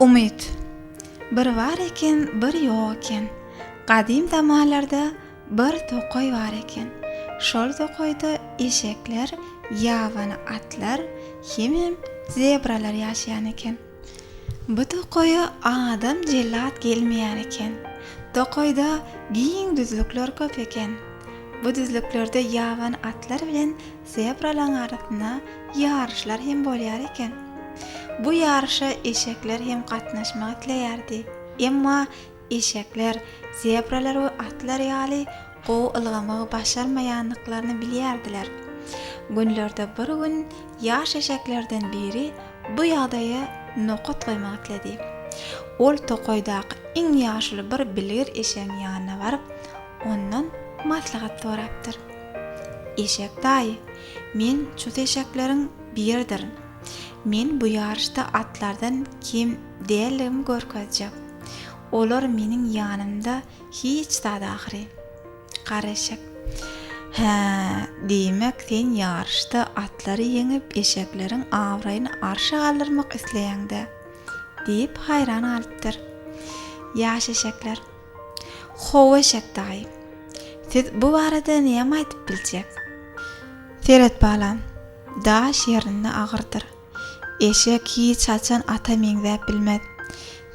Umyt. Bir bar eken, bir ýok eken. Gadym zamanlarda bir tokaý bar eken. Şol tokaýda eşekler, ýabany atlar hemem zebralar ýaşaýan eken. Bu tokaýa adam jellat gelmeýän eken. Tokaýda giň düzlükler köp eken. Bu düzlüklerde ýaban atlar bilen zebralaryň arasynda ýaryşlar hem bolýar eken. Bu ýaryşa eşekler hem gatnaşmak isleýärdi. Emma Eşekler, zebralar we atlar ýaly gowy ylgamagy başarmaýandyklaryny bilýärdiler. Günlerde bir gün ýaş eşeklerden biri bu ýagdaýa nokat goýmak isledi. Ol tokaýdaky iň ýaşuly bir bilgir eşegiň ýanyna baryp, ondan maslahat sorapdyr. Eşek daýy, men çus eşekleriň biridirin. Men bu ýaryşda atlardan kem däldigimi görkezjek. Olar meniň ýanymda hiç zat ahyry. Gara eşek. Hä, diýmek, sen ýaryşda atlary ýeňip, eşekleriň abraýyny arşa galdyrmak isleýäň-dä? diýip, haýran galypdyr. Ýaş eşekler. How, eşek daýy. Siz bu barada näme aýdyp biljek? Seret balam, daş ýerinde agyrdyr. Eşek hiç haçan ata meňzäp bilmez.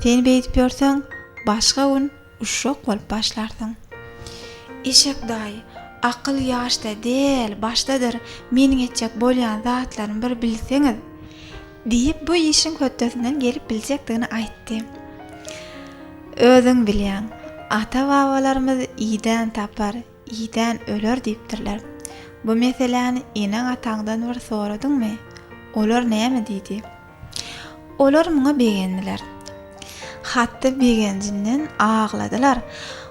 Sen beýdip ýörseň, başga gün uşak bolup başlarsyň. Eşek daýy, akyl ýaşda däl, başdadyr, meniň etjek bolýan zatlarymy bir bilseňiz, diýip, bu işiň hötdesinden gelip biljekdigini aýtdy. Özüň bilýäň, ata-babalarymyz idän tapar, Idän öler diýipdirler. Bu meseläni eneň-ataňdan bir soradyňmy? Olar näme diýdi? Olar muňa begendiler. Hatda begenjinden agladylar.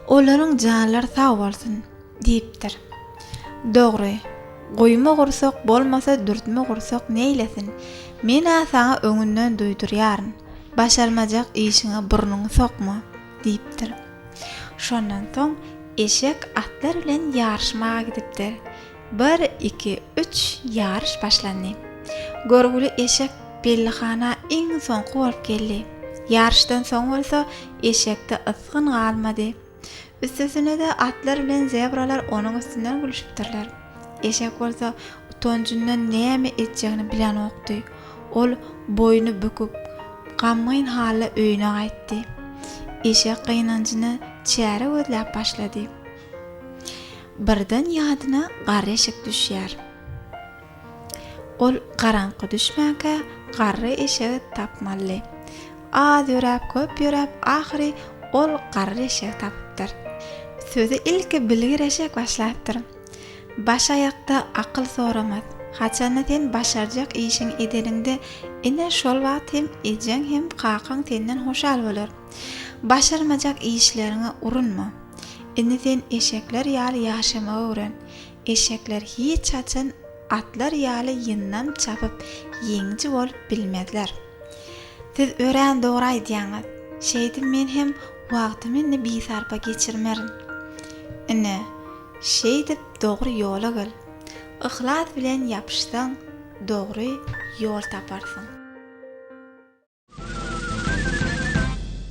Olaryň janlary sag bolsun! diýipdir. Dogry, guýma gursak bolmasa dürtme gursak neýlesin? Men-ä saňa öňünden duýdurýaryn, başarmajak işiňe burnuňy sokma! diýipdir. Şondan soň eşek atlar bilen ýaryşmaga gidipdir. Bir, iki, üç, ýaryş başlandy. Görgüli eşek Bellihana iň soňky bolup geldi. Ýaryşdan soň bolsa eşekde ysgyn galmady. Üstesine-de atlar bilen zebralar onuň üstünden gülüşipdirler. Eşek bolsa utanjyndan näme etjegini bilenokdy. Ol boýny büküp, gamgyn halda öýüne gaýtdy. Eşek gynanjyna çäre gözläp başlady. Birden ýadyna garry eşek düşýär. Ol garaňky düşmänkä garry eşegi tapmaly. Az ýöräp, köp ýöräp, ahyry ol garry eşegi tapypdyr. Sözi ilki bilgir eşek başlapdyr. Baş aýakda akyl soramaz. Haçanda sen başarjak işiňi edeniňde, ine, şol wagt hem ejeň hem kakaň senden hoşal bolar. Başarmajak işleriňe urunma. Indi sen eşekler ýaly ýaşamagy öwren. Eşekler hiç haçan atlar ýaly ýyndam çapyp, ýeňiji bolup bilmezler. Siz örän dogry aýdýaňyz. Şeýdip men hem wagtymy indi bisarpa geçirmerin. Ine, şeýdip dogry ýola gel. Yhlas bilen ýapyşsaň, dogry ýol taparsyň.